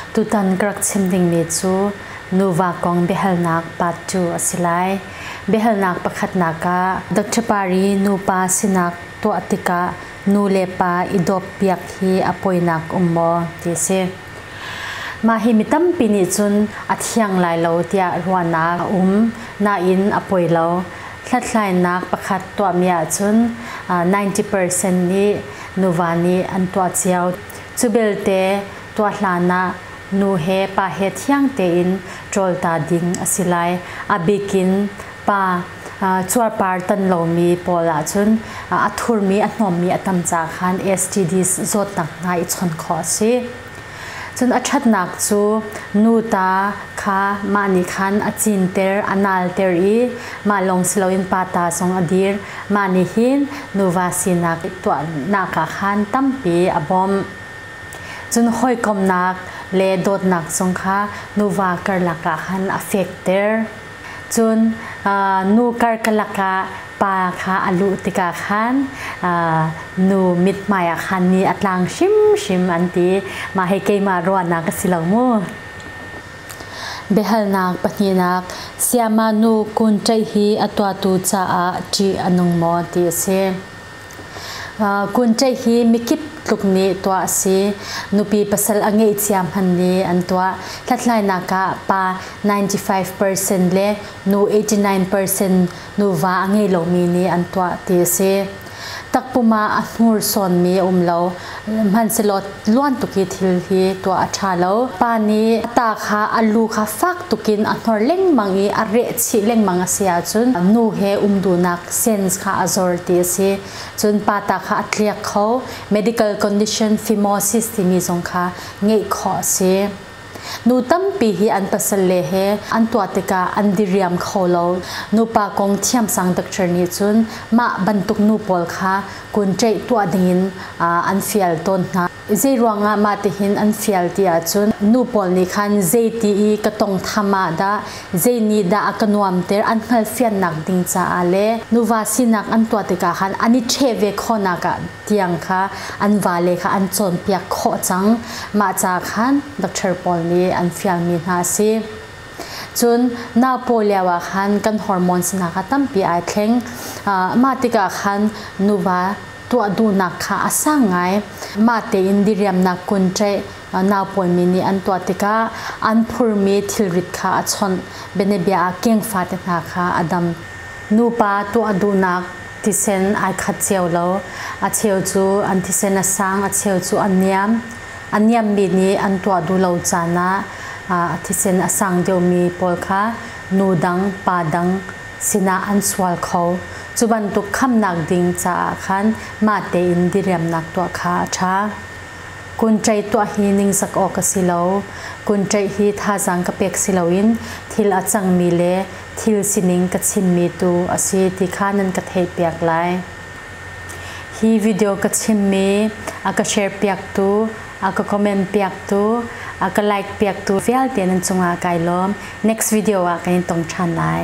Tutan ka rak chim dingmi cu nuva kong biahalnak part 2 a si lai. Biahalnak pakhatnak ah Dr. Pari nupa sinak tuah tikah nu le pa i dawppiak hi a poinak um maw ti a si. Mah hi mi tampi nih cun a thiang lai lo tiah ruahnak a um. Nain a poi lo. Hlathlainak pakhat tuahmi ahcun 90% nih nuva nih an tuah cio. Cubelte tuah hlan ah nu he pa he thiang tein ṭawl ta ding a si lai. A bik in pa cuarpar tan lomi pawl ahcun a thurmi, a hnawmmi a tam caah khan STDs zawtnak hna i chawnh khawh a si. Cun a ṭhatnak cu nuta kha mah nih khan a cinter, a nalter i mah lawng si loin pa ta zong a dir. Mah nih hin nuva sinak tuahnak ah khan tampi a bawmh. Cun hawikomhnak le dawtnak zong kha nuva karlak ah khan a fekter. Cun nu karkalak ah pa kha a luh tikah khan nu mithmai ah khan ni a tlang hrimhrim an ti. Mah hi keimah ruahnak a si lo mu. Biahalnak pahnihnak Sayama nu Kun Ṭaih hi a tuahtu caah ṭih a nung maw ti a si. Kun Ṭaih hi mikip tluk nih tuah a si. Nupi pasal a ngeih cia hmanh nih an tuah. Hlathlainak ah pa 95% le nu 89% nuva a ngei lomi nih an tuah ti a si. Takpum ah a hnursawnmi a um lo. Hmanhsehlaw luan tuk i thil hi tuah a ṭha lo. Pa nih a ta kha a lu kha fak tuk in a hnor lengmang i a rehchih lengmang a si ahcun nu he um duhnak sens kha a zor ti a si. Cun pa ta kha a tliak kho. Medical condition phimosis timi zong kha ngeih khawh a si. Nu tampi hi an pasalle he an tuah tikah an diriam kho lo. Nupa kong thiamsang doctor nih cun mah bantuk nu pawl kha kun ṭeih tuah dingin an fial tawn hna. Zeiruangah mah tihin an fial ti ahcun nu pawl nih khan zeiti i ka tawnghtham ah dah, zei nih dah a ka nuamter an hngalhfiannak ding caah le nuva sinak an tuah tikah khan an i ṭheh ve khawhnak ah tiang kha an vale kha an cawnpiak khawh cang. Mah ca khan doctor pawl nih an fialmi hna a si. Cun nau pawi lioah khan kan hormones-nak a tampi aa thleng. Mah tikah khan nuva tuah duhnak kha a sang ngai. Mah tein diriamnak kun ṭaih naupawimi nih an tuah tikah an phurmi thilrit kha a chawnh. Bianabia ah keng fate hna kha a dam. Nupa tuah duhnak thisen ai khat cio lo. A cheu cu an thisen a sang, a cheu cu a niam. A niammi nih an tuah duh lo caan ah a thisen a sang deuhmi pawl kha nu dang, pa dang sinah an sual kho. Cu bantuk khamnak ding caah khan mah tein diriamnak tuah kha a ṭha. Kunṭaih tuah hi ningzak awk a si lo. Kunṭaih hi thazaang ka pek si loin thil a cangmi le thil sining ka chimmi tu a si ti kha nan ka theihpiak lai. Hi video ka chimmi a ka sharepiaktu, a ka comment-piaktu, a ka like-piaktu vialte nan cungah kai lawm. Next video ah kan i tong ṭhan lai.